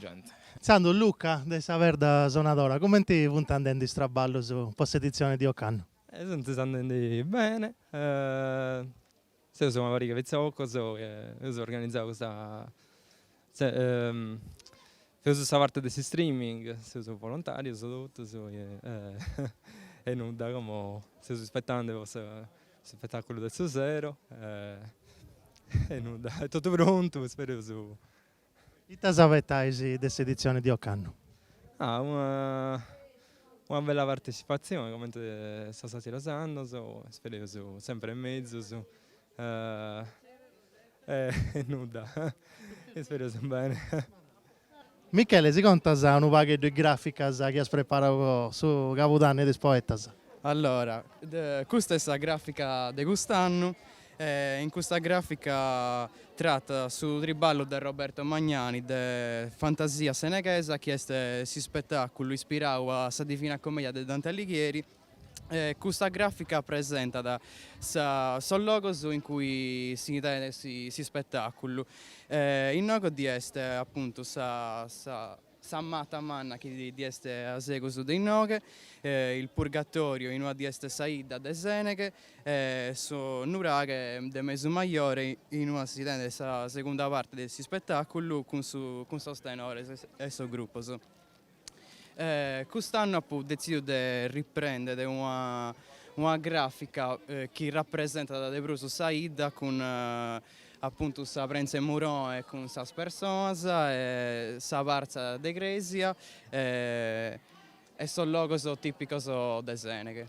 gente. Intzandus, Luca de sa Perda Sonadora, cumenti funt andendi is traballus po s'editzioni di ocannu? Sunt andendi bene, seus una pariga de pitzocos chi eus organizau custa seus sa parte de s'streaming, seus volontarius totus e nudda como seus ispetandi po s'ispettaculu de su sero e nudda est totu prontu ispereus Ita s'abetais de s'editzione de ocannu? Ah una una bella partecipatzione comente sos atteros annos, ispereus sempre in mezus e nudda ispereus bene. Michele si contas unu pagheddu is graficas chi as preparau po su Cabudanni de is Poetas? Allora custa est sa grafica de cust'annu E in custa gràfica tratat su triballu de Roberto Magnani de Fantasia seneghesa chi est s'ispetàculu ispirau a sa Divina Commedia de Dante Alighieri e custa gràfica presentat sa sos logos in cui si tenet s'ispetàculu e inoghe ddi est apuntu sa Sa mata manna chi ddi est a segus de inoghe, il purgatorio inua ddi est sa 'idda de Sèneghe e su nuraghe de Mesu Majore inua si tendet sa segunda parte de s'ispetàculu cun su cun sos tenores e sos grupos. Cust'annu apo detzìdiu de riprendere una una grafica chi rapresentat de prus sa 'idda cun Apuntu sa prentza 'e Muroe cun sas personas e sa partza de crèsia e sos logos tìpicos de Sèneghe.